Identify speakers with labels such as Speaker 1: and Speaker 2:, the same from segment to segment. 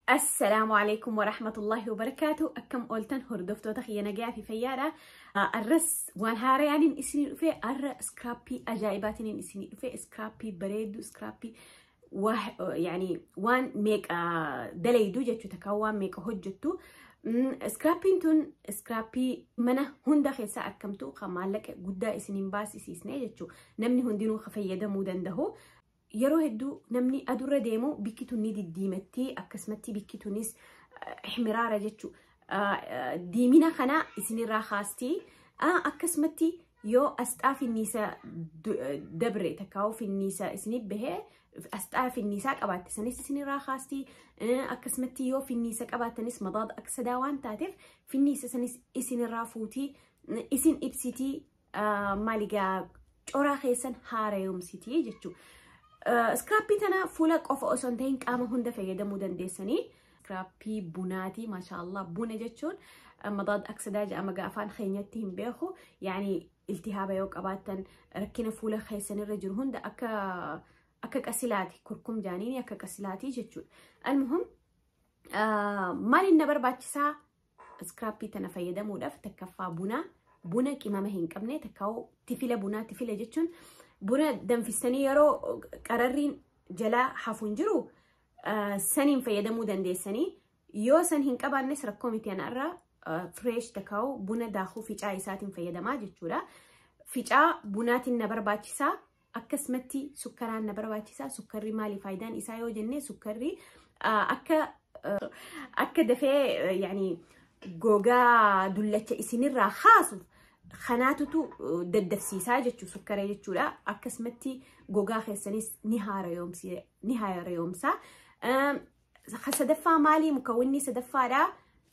Speaker 1: Assalaamu alaikum wa rahmatullahi wa barakaatu akkam ooltan hordoftoota kiyya nagayaa fi fayyaadha arras waan haarayaanin isinii dhufe arra iskraappii ajaa'ibaatinin isinii dhufe iskraappii bareedu iskraappii yaani waan meeqa dalaydu jechuu takka waan meeqa hojjettu iskraappiin tun iskraappii mana hunda keessaa argamtu kan maallaqa guddaa isiniin baasisiisne jechuu namni hundinuu fayyadamuu danda'u. Yeroo hedduu namni adurra deemu bikki tun ni diddiimatti akkasumatti bikki tunis ihmiraara jechuu diimina kana isinirraa kaasti akkasumatti yoo asxaa finniisa dabre takkaa'uu finniisa isinif bahee asxaa finniisaa qabaatte sanis isinirraa kaasti akkasumatti yoo finniisa qabaattanis madaada aksadaa waan taateef finniisa sanis isinirraa fuutii isin ibsitii Maali gaa coraa keessan haarayomsitii jechuu. Iskiraappii tana fuula qofa osoo hin ta'in qaama hunda fayyadamuu dandeessanii. Iskiraappii bunaatii maashaallah buna jechuun madaad aksadaa jedhama gaa afaan keenyatti hin beeku. Yaani iltihaaba yoo qabaattan rakkina fuula keessanirra jiru hunda akka akka qasilaati kurkum jaaniini akka qasilaati jechuudha. Almuhim maaliin na barbaachisaa Iskiraappii tana fayyadamuudhaaf takkaffaa buna buna qimama hin qabne takkaa'u tifila bunaa tifila jechuun buna danfistanii yeroo qararriin jalaa hafu hin jiru saniin fayyadamuu dandeessanii yoo san hin qabaannes rakkoo miti anarraa fireesh takkaa'u buna daakuu ficaa isaatiin fayyadamaa jechuudha. Ficaa bunaatiin na barbaachisaa akkasumatti sukkaraan na barbaachisa sukkarri maali faayidaan isaa yoo jenne sukkarri akka akka dafee yaani gogaa dullacha isinirraa haasu kanaatutu daddafsiisaa jechuu sukkara jechuudha akkasumatti gogaa keessanis ni haarayoomsaa sadaffaa maalii mukawwinni sadaffaadha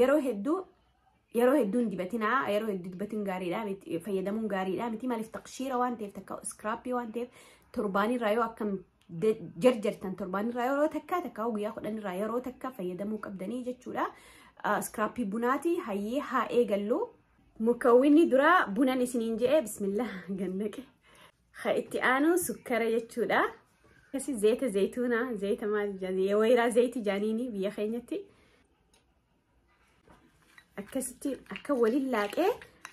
Speaker 1: yeroo hedduu yeroo hedduu hin dibatinaa yeroo hedduu dibatin gaariidha miti fayyadamuun gaariidha miti maaliif taqshiira waan ta'eef takka iskiraappii waan ta'eef torbaanirraa yoo akkam de- jarjartan torbaanirraa yeroo takka takka guyyaa kudhanirraa yeroo takka fayyadamuu qabdanii jechuudha Ah, iskiraappii bunaati hayyee haa eegallu mukawwinni duraa bunan isiniin je'e bismillah gannaqe Ka itti aanu sukkara jechuudha. Akkasii zayita zayituunaa, zayita maal jedhanii, wayiraa zayiti jaaniini biyya keenyatti. Akkasitti akka waliin laaqee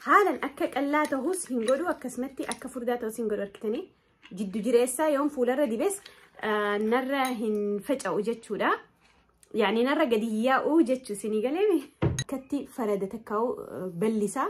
Speaker 1: haalan akka qallaa ta'us hin godhu akkasumatti akka furdaa ta'us hin godhu argitanii. Jiddu jireessaa yoon fuularra dibes ah, narra hin faca'u jechuudha. Yaani narra gadi hin yaa'u jechuu isinii galeemi. Akkatti farada takkaa'u ballisaa.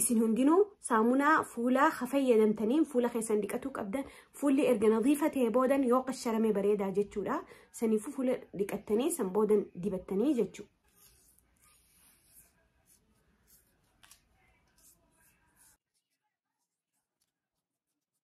Speaker 1: isin hundinuu saamunaa fuulaa ha fayyadamtaniin fuula keessan dhiqatuu qabdan fuulli erga nadiifa ta'e boodan yoo qasharame bareedaa jechuudha saniifuu fuula dhiqattanii san boodan dibattanii jechuudha.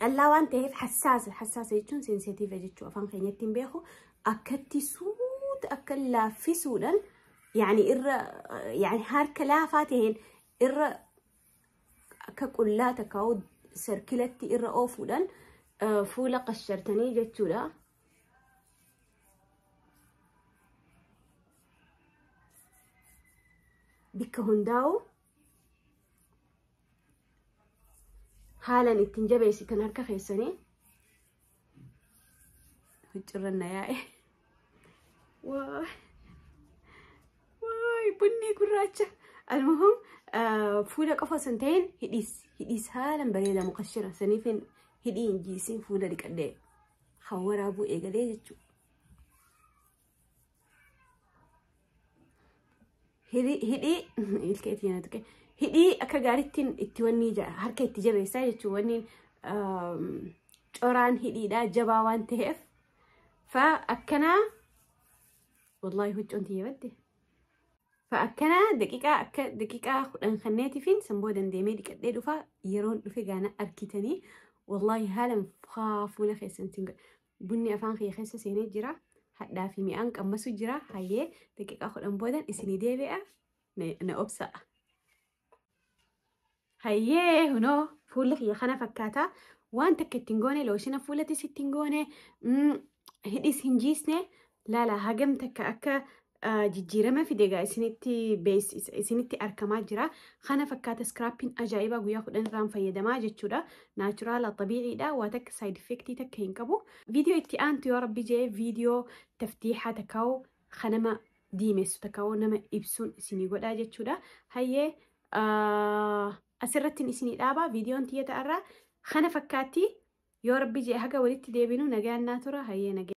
Speaker 1: qallaa waan ta'eef hassaasa hassaasa jechuun sensitiiva jechuu afaan keenyatti hin beeku akkatti suuta akka laaffisuudhaan yaani irra yaani harka laafaa ta'een irra akka qullaa takkaa'u sarkilatti irra oofuudhaan eh, fuula qashartanii jechuudha. Bikka hundaa'u haalan ittiin jabeessitan harka keessanii huccirran na yaa'e waa waay bunni gurraacha almuhum fuula qofa osoo hin ta'in hidhiis hidhiis haalan bareeda mukashira saniifin hidhii hin jiisiin fuula dhiqadhee kan waraabuu eegalee jechuudha. Hidhi- hidhii ilkee itti nyaatu kee. hidhii akka gaariitti itti wanni ja- harka itti jabeessaa jechuun wanni um, coraan hidhiidhaa jabaa waan ta'eef fa akkanaa wallaahi huccoon tiyya badde fa akkanaa daqiiqaa akka daqiiqaa kudhan kanneetifiin san booda deemee dhiqadhee dhufa yeroon dhufe gaana argitanii wallaahi haalan faa fuula keessan isin godha Bunni afaan kiyya keessa seenee jira. Hadhaa fi mi'aan qammasu jira. Hayyee daqiiqaa kudhan boodan isinii deebi'a na, na obsa'a. Hayyee hunoo fuulli kiyya kana fakkaata. Waan takka ittiin goone looshina fuulatis ittiin goone mm, hidhis hin jiisne laala hagam takka akka jijjiirama fide egaa isinitti bees- is- isinitti argamaa jira. Kana fakkaata iskiraappiin ajaa'ibaa guyyaa kudhan irraan fayyadamaa jechuudha. Naachuraala xabiiciidha. Waa takka saayid effektii takka hin qabu. Viidiyoo itti aantu yoo rabbi jee viidiyoo taftiixaa takkaa'u kan nama diimessu takkaa'u nama ibsuun isinii godhaa jechuudha. Hayyee ah, asirrattiin isinii dhaabaa viidiyoon tiyya ta'arraa kana fakkaatti yoo rabbi jee haga walitti deebinu nagaan naa tura hayyee nagaan.